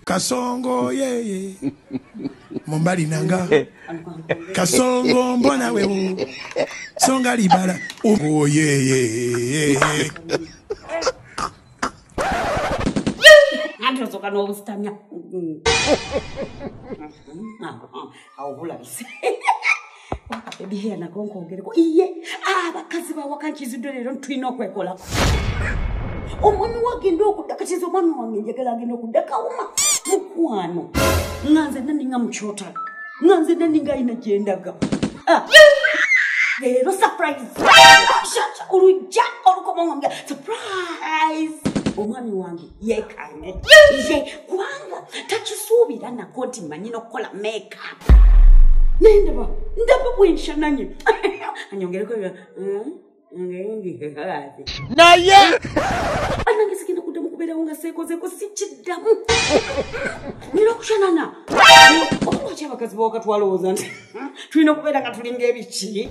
kasongo yeye mumbali nanga kasongo mbona wewo songa libala oh, yeye awo bulabise ebiheya nako nkongereko iye abakazi bawaka nkizidde leero ntulina okwekolako omwami wagenda okudda katiza omwami wange njagala agenda okudda kawuma mukwano nga nze naninga mukyotala nga nze naninga ayina gyendaga ah. leero surprise olujja olukomawange surprise omwami wange yekanye ye kubanga takisuubira nako nti manyi nokukola makeup naye ndaba ndaba bwenshananye anyongereko hmm? naye anange sigenda kuddamu kubeerawo nga seekozeeko sikiddamu nina okushanana okulwaki abakazi bawakatwalowooza nti hmm, tulina okubeera nga tulinga ebiki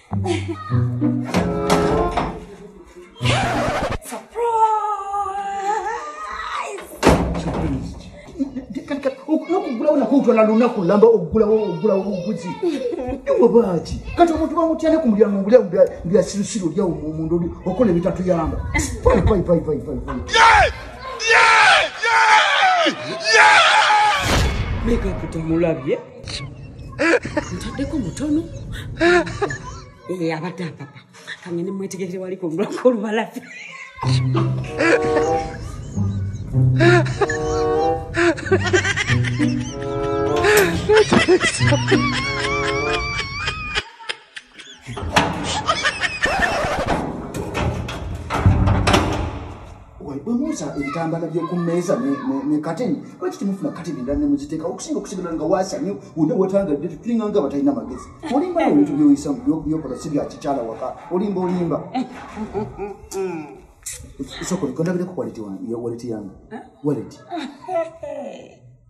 okugulawo nakutwala lunaku lamba okugulawo okugulawo obuguzi ewe baaki kati omuntu bamutyane ku mulyango ngulya mbyasirusiru olyawo mumundu oli okola ebitatuyamba mekakutamulabye ntaddeko mutono ee eh, abadde apapa kange ne mwetegekere wali kungulako olubalafi Thank you. bwe musa ebitambala by'oku mmeeza ne kateni lwaki temufuna kateni endala ne muziteekawo okusinga okusigala nga waasanye wonna wetangadde tulinga nga batalina magezi olimba no ebintu byoyisamu byokola si bya kikyala waka olimba olimba sokole kondabireko waleti yange waleti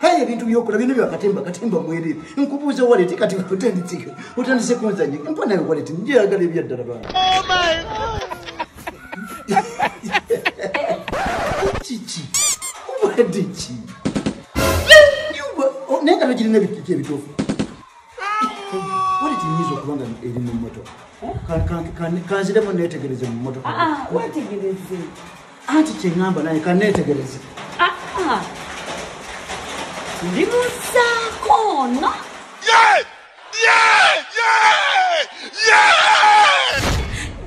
Haya ebintu byokola bino byakatemba katemba mwere nkubuuza waleti kati otenditike otandise kunzanye mpa nayo waleti njeyagala ebyaddala bana kiki obadde ki naye nga togirina ebikiki ebituufu waleti nyinza okuba nga eri mu mmotoka kanziremu neetegereze mu mmotoka ah, ah, wetegereze anti kyeŋamba naye kaneetegereze ah, ah. ndi musaako ono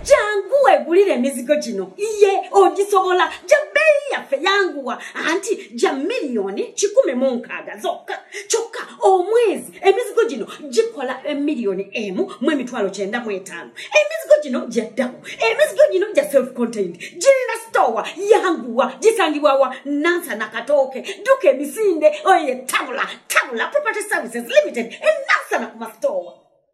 jangu wegulire emizigo gino iye ogisobola ja bbeeyi yaffe yanguwa anti ja miliyoni kikumi mu nkaaga zokka kyokka omwezi emizigo gino gikola emiliyoni emu mu emitwalo kyenda mu etaano emizigo gino gyaddamu emizigo gino gya self contained girina sitowa yanguwa gisangibwawa nansa nakatooke duka emisinde oye tabula tabula property services limited enansana ku masitowa